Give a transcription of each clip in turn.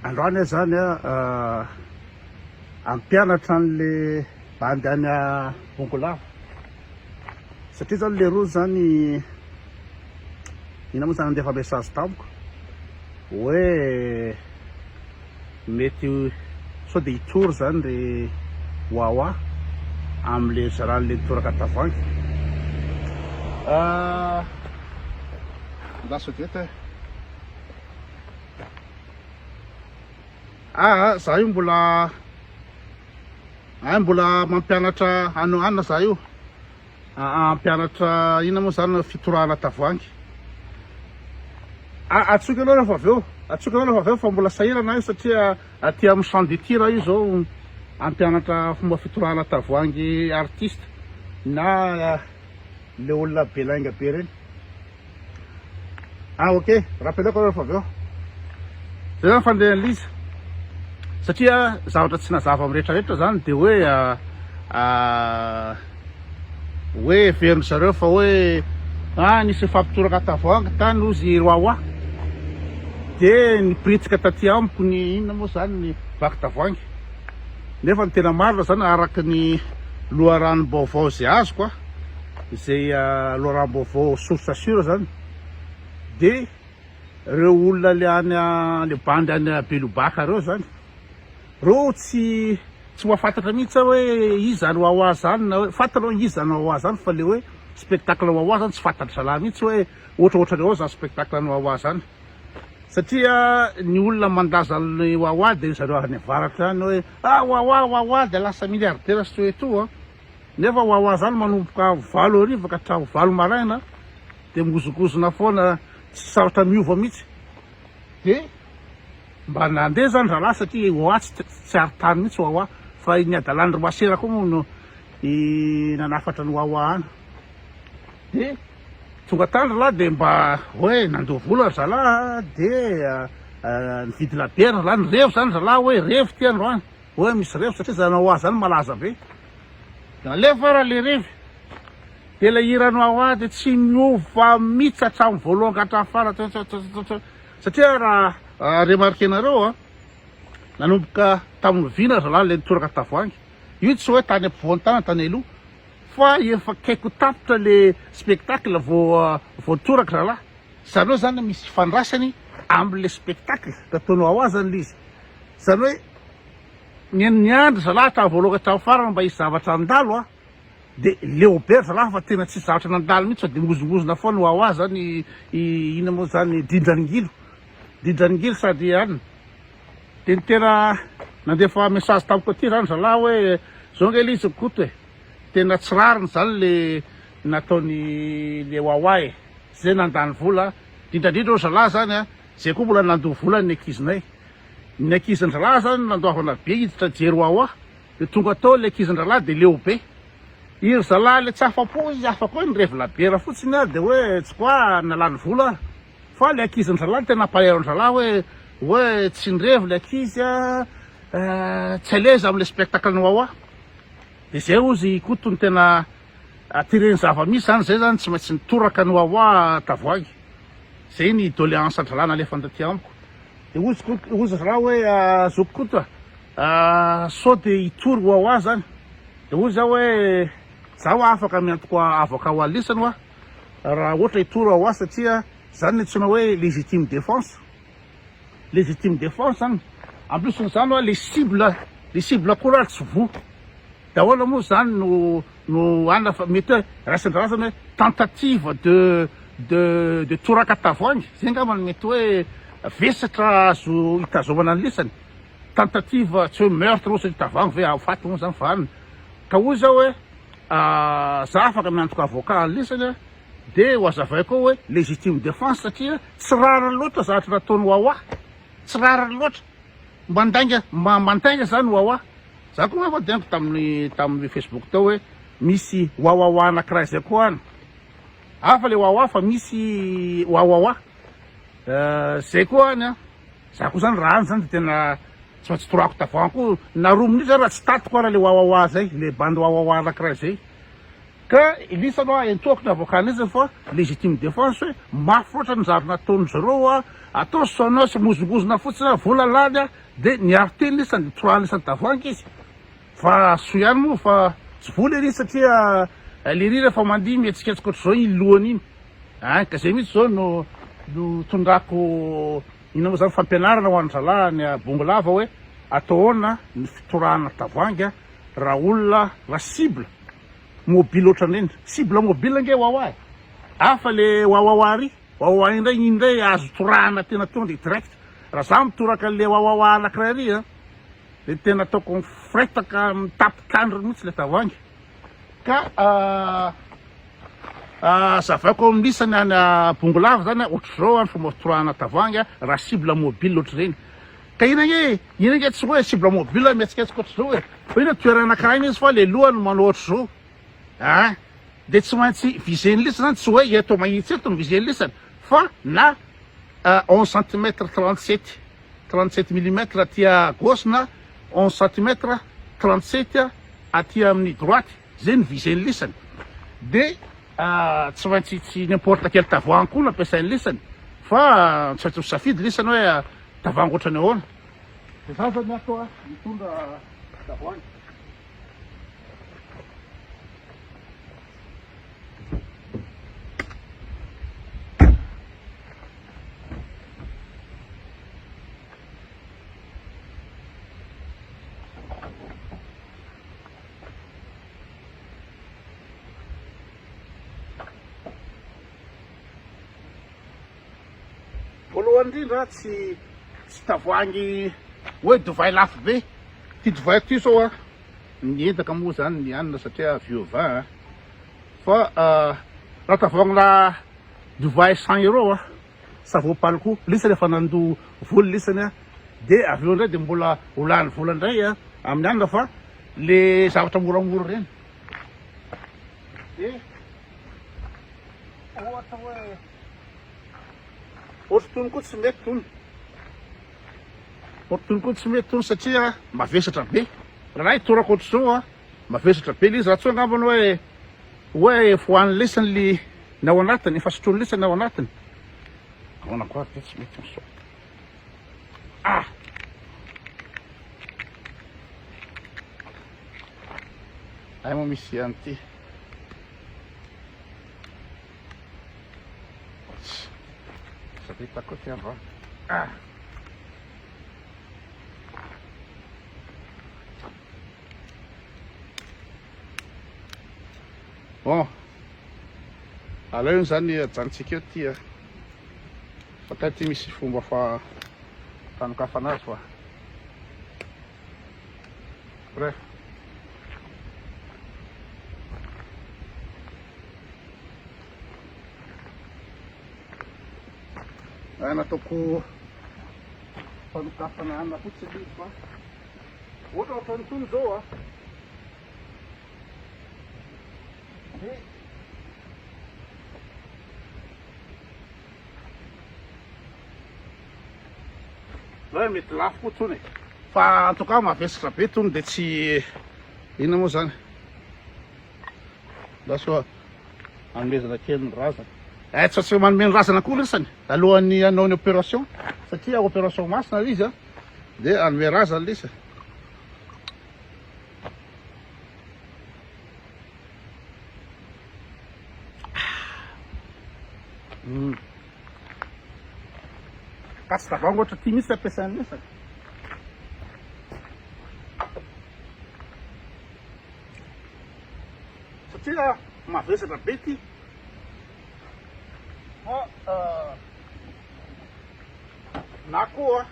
Androany aho zany hampianatra anle bandy any Bongolava satria zany leroa zany ina moa zany nandefa message tamiko hoe Mety sao dia hitory izany ry Wawa amin'ilay zaran'ilay mitoraka tavoahangy. Lasa dia eto eh. Aa za io mbola ay mbola mampianatra an'i Anna za io. Aa hampianatra inona moa zany ny fitorahana tavoahangy? Aa atsoiko aloha rehefa avy eo, atsoiko aloha rehefa avy eo fa mbola sahirana aho satria aty amin'ny champ de tir aho izao hampianatra fomba fitorahana tavoahangy artiste na le olona be lainga be reny. Ah ok, rappelako aloha fa avy eo. Zay zany fandehan'i Liza. Satria zavatra tsy nazava amin'ny rehetrarehetra zany dia hoe hoe heverin'ny zareo fa hoe ah nisy nifampitoraka tavoahangy tany ozy i Wawa. Dia nipiritsika taty amiko ny inona moa zany ny vaky tavoahangy. Nefa ny tena marina zany araka ny loharanom-baovao izay azoko a. Izay loharanom-baovao source sure zany dia ireo olona le any le bandy any Belobaka ireo zany, ireo tsy tsy mahafantatra mihitsy aho hoe iza zany wawa zany na hoe fantatra hoe iza zany wawa zany fa le hoe spectacle wawa zany tsy fantatry zalahy mihitsy hoe ohatraohatran'ny ahoana zany spectacle any wawa zany satria ny olona mandà zany wawa dia zareo any avaratra any hoe ah wawa wawa dia lasa milliardaire soeto an! Nefa ho aho zany manomboka valo hariva ka hatramin'ny valo maraina dia mihozongozona foana tsy sarotra miova mihitsy dia mba nandeha zany rahalahy satria ho ahy tsy ary tany mihitsy ho ahy fa ny hadalan'dry masera koa moa no nanafatra ny ho ahy any dia tonga tany rahalahy dia mba hoe nandoa vola ry zalahy dia nividy labiera rahalahy ny revo zany rahalahy hoe revo ity androany Oe misy revy satria zany Wawa zany malaza be. Alefa ara le revy. Dia ilay hiran'i Wawa dia tsy miova mihitsy hatramin'ny voalohany ka hatramin'ny farany. Satria raha remarquer-nareo a, nanomboka tamin'ny vy na zalahy ilay nitoraka tavoahangy. Io tsy hoe tany ampovoan'ny tanana tany aloha fa efa akaiky ho tapitra le spectacle vao vao toraka zalahy. Izany hoe zany misy ifandraisany amin'ilay spectacle nataon'i Wawa zany ilay izy. Izany hoe. ny ny andry zalahy tamin'ny voaloha tamin'ny farany mba hisy zavatra handalo a de leo be ry zalahy fa tena tsisy zavatra nandalo mihitsy fa de mozongozona foana hoa hoa zany i ina moa zany dindran'ingilo dindran'ingilo sady anina de ny tena nandefa message tamiko aty zany zalahy hoe zao nge le izy ny koto e tena tsy rariny zany le nataony le hoa hoa e zay nandany vola dindrandrindra hoy zalahy zany a zay koa mbola nandoa vola ny ankizinay Ny ankizin-drahalahy izany nandoavana be hiditra Jeroaoa, dia tonga tao ilay ankizin-drahalahy dia leo be. I ry zalahy ilay tsy afa-po izy, afaka hoe nirevy labiera fotsiny ary dia hoe tsy quoi nalany vola ary. Fa ilay ankizin-drahalahy no tena ampahairy an-drahalahy hoe hoe tsy nirevy ilay ankizy a, tsy à l'aise amin'ilay spectacle-n'i Wawa. Dia izay hozy i Koto no tena. Attirer-ny zava-misy zany, zay zany tsy maintsy nitoraka ny wawa tavoahangy, zay ny doléance an-dry ra nalefany taty amiko, de hozy Koto, hozy ry ra hoe zoky Koto a, sao de hitory wawa zany, de hozy aho hoe za hoa afaka miantoko avocat ho alisany hoa raha ohatra hitory wawa satria zany ny antsoina hoe légitime défense, légitime défense zany, en plus ny zany hoa le cible, le cible koa ra tsy voa. daholo moa zany no no anona fa mety hoe raisin-drazana hoe tentative de de de toraka tavoahangy zay ngamba no mety hoe vesatra azo hitazomana ny lisany tentative tsy hoe meurtre ohatry ny tavoahangy ve aho faty moa zany fa anona ka hoy zao hoe za afaka miantoka avocat ny lisany de ho azavaiko ao hoe legitime defense satria tsy rariny loatra zavatra nataony wawa tsy rariny loatra Mba ndainga mba mba ndainga zany wawa za ko ngamba dia taminy taminy facebook tao hoe misy wawawa anakiray zay ko any hafa le wawa fa misy wawawa zay ko any a za ko zany raha any zany de tena tsy maintsy torako tavany ko na roa minitra zany raha tsy tatiko ara le wawawa zay le bandy wawawa anakiray zay Ka Elisha aloha ahentoako ny avokana izy fa legitime defense hoe mafy loatra ny zary nataon'izy ireo a, atao sauna sy mozongozona fotsiny a, vola lany a, dia niaro tena izy sady trois ans isan-tavoahangy izy fa soa ihany moa fa tsy vola ery izy satria lery rehefa mandihy mihetsiketsika ohatr'izao iny lohany iny an, ka zay mihitsy zao no no tondrako ina moa zany fampianarana ho an'ny zalahy any a Bongolava hoe atao ahoana ny fitorahana tavoahangy a raha olona raha cible Mobile otrany reny. Cible mobile ange wawa e. Hafa le wawawa ry. Wawawa indray iny indray azo torahana tena tonga dia direct. Raha za mitoraka an'le wawawa anakiray ry a, dia tena ataoko mifretaka mitapik'andro mihitsy le tavoahangy. Ka hazavaiko amin'isany any Bongolava zany a, ohatr'izao ny fomba fitorahana tavoahangy raha cible mobile otr'ireny. Ka ina nge e! Ina nge tsy hoe cible mobile mihetsiketsika ohatr'izao e! Fa io le toerana anankiray mihitsy fa le lohany manao ohatr'izao a! Dia tsy maintsy viser-ny lisany zany, tsy hoe eto mahitsy eto no viser-ny lisany fa na onze centimètre trente sept trente sept millimètre aty à gauche na onze centimètre trente sept aty amin'ny droite. Zay ny viser ny lisany de tsy maintsy tsy n'importe quel tavoahangy koa no ampiasainy lisany fa tsy maintsy misafidy lisany hoe tavoahangy ohatrany ahoana. De za zao ny ato a mitondra tavoahangy. Voalohany indrindra tsy tsy tavoahangy hoe dovay lafo be ty dovaiko ty sao a ny entaka moa zany ny hanina satria avy eo va a fa raha tavoahangina dovay cent euro a savon palco lisany efa nandoa vola lisany a dia avy eo indray dia mbola ho lany vola indray a amin'ny hanina fa Le zavatra moramora reny eh ohatra hoe ohatra tony koa tsy mety tony ohatra tony koa tsy mety tony satria mavesatra be raha torako ohatr'izao a mavesatra be le izy raha tsy angambany hoe hoe fohan'ny lesany le ny ao anatiny efa sotroin'ny lesany ao anatiny ahoana koa ary ve tsy mety an'izao Ay moa misy an'ity. Sa dia hitako ity androany. Ah. Bon. Aleo izany ajanontsika eo ity. Bakay ity misy fomba fa tanokafana azy fa Bref. Raha nataoko fanokafana hanina fotsiny izy fa ohatra ohatra an'itony izao a. Dia Zao e mety lafo koa tsony e. Fa en tout cas mavesatra be tony de tsy inona moa zany. Lasa anomezana kely ny razana. Eh tsy tsy manome ny razana koa lesany alohan'ny hanao ny opération satria opération masina le izy a. De anome razana le izy. Tasy tavoahangy ohatra ity mihitsy ampiasain'ny hafa. Satria mavesatra be ity. Fa euh, na koa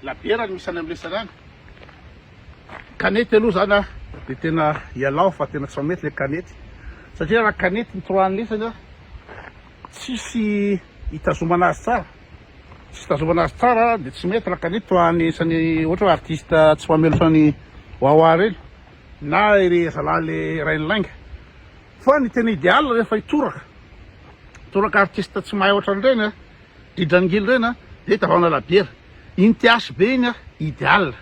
labiera no misy any amin'ny lesana any. Kanety aloha zany dia tena ialao fa tena tsy mamety ilay kanety satria raha kanety ny trois an'isany tsisy hitazomana azy tsara tsisy hitazomana azy tsara dia tsy mety raha kanety trois an'isany ohatra hoe artiste tsy mamelotra ny wawa ireny na ry zalahy le rain'ny lainga fa ny tena idéal rehefa hitoraka toraka artiste tsy mahay ohatran'ireny a dridran'ngily ireny a dia tavana labiera iny THB iny a idéal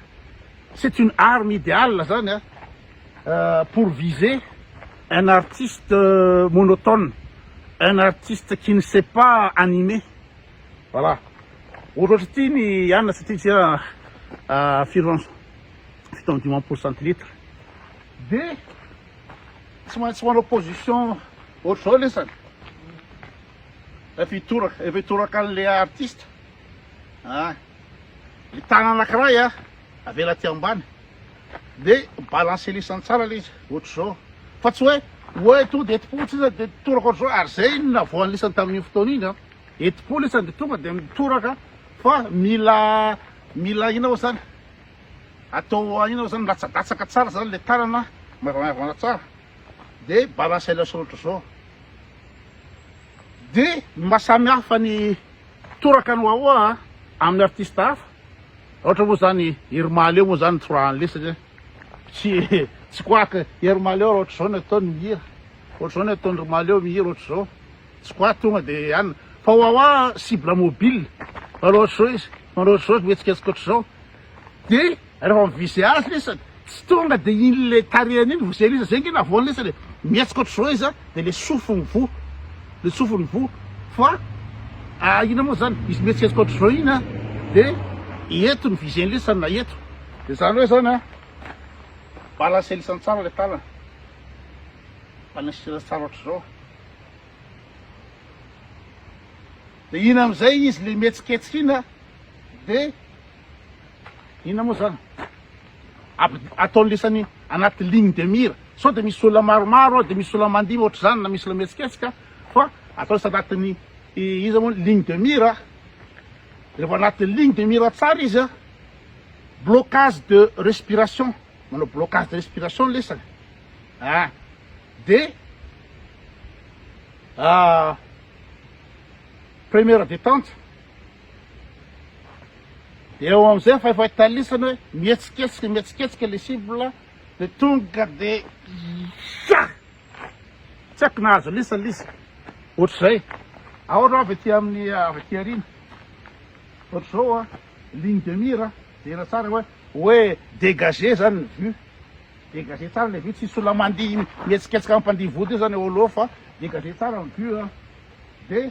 C'est une arme ideale zany a pour viser un artiste monotone, un artiste qui ne sait pas animer, voilà ohatrohatry ity ny anona satria ity a firy ans fito amby dimampolo centilitre de tsy maintsy manao position ohatr'izao lesany efa hitoraka efa hitoraka an'le artiste a Ny tanana anakiray a avela aty ambany de balancer lisany tsara le izy ohatr'izao fa tsy hoe oe to de etipo tsy izy de toraka ohatr'izao ary zay no navoan'ny lisany tamin'iny fotoana iny a etipo lisany de tonga de mitoraka fa mila mila ina ao zany atao ina ao zany milatsadatsaka tsara zany le tanana maivanmaivana tsara de balance ela sôtr zao de ny maha samy hafa ny toraka ny wawa amin'ny artiste hafa ohatra moa zany Hery Mahaleo moa zany nitorahan'ny le satria tsy tsy quoique Hery Mahaleo raha ohatr'izao ny ataony mihira ohatr'izao ny ataony ry Mahaleo mihira ohatr'izao tsy quoique tonga de anina fa wawa cible mobile manao ohatr'izao izy manao ohatr'izao mihetsiketsika ohatr'izao de Rehefa miviser azy lesa tsy tonga de iny le tarehany iny voser lesa zay nge navoany lesa le mihetsika otrzao izy a de le sofiny voa le sofiny voa fa a ina moa zany izy mihetsiketsika otrzao iny a de eto ny viser ny lesa na eto de zany hoe zany a balancer lesany tsara le tanana balancer tsara otrzao de iny amizay izy le mihetsiketsika iny a de Inona moa zany? Ataony lisany anaty ligne de mire, sao dia misy olona maromaro ao dia misy olona mandihy ohatr'izany na misy olona mihetsiketsika fa atao lisany anatin'ny iza moa ny ligne de mire, rehefa anatin'ny ligne de mire tsara izy an, blocage de respiration, manao blocage de respiration ny lisany an, dia première détente, Dia eo amin'izay efa efa italisany hoe mihetsiketsika mihetsiketsika ilay cible dia tonga dia ya! Tsy haiko nahazo lisa ilay izy. Ohatr'izay. Ahoana avy aty amin'ny ah, avy aty aoriana. Ohatr'izao a, ah, ligne de mire a, ah. jerena tsara hoe hoe dégagé zany ny vue. Dégagé tsara ilay vue, tsy sola mandihy mihetsiketsika mampandihy vody io zany eo aloha fa dégagé tsara ny vue a. Dia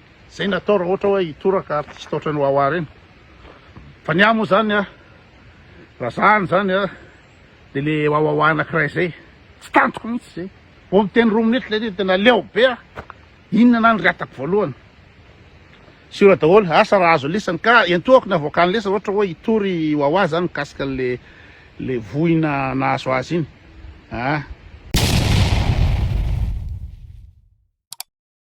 Zay ny atao raha ohatra hoe hitoraka artiste ohatran'i Wawa reny. Fa ny ahy moa zany a, raha zany zany a, de le Wawawa anakiray zay, tsy tantiko mihitsy zay. Vao miteny roa minutes lay izy tena leo be aho. Inona ana ny rehatako voalohany? Siora daholo, asa raha azo lisany. Ka entohako ny avoakan'ny lesany ohatra hoe hitory i Wawa zany mikasika an'le le voina nahazo azy iny. Ah.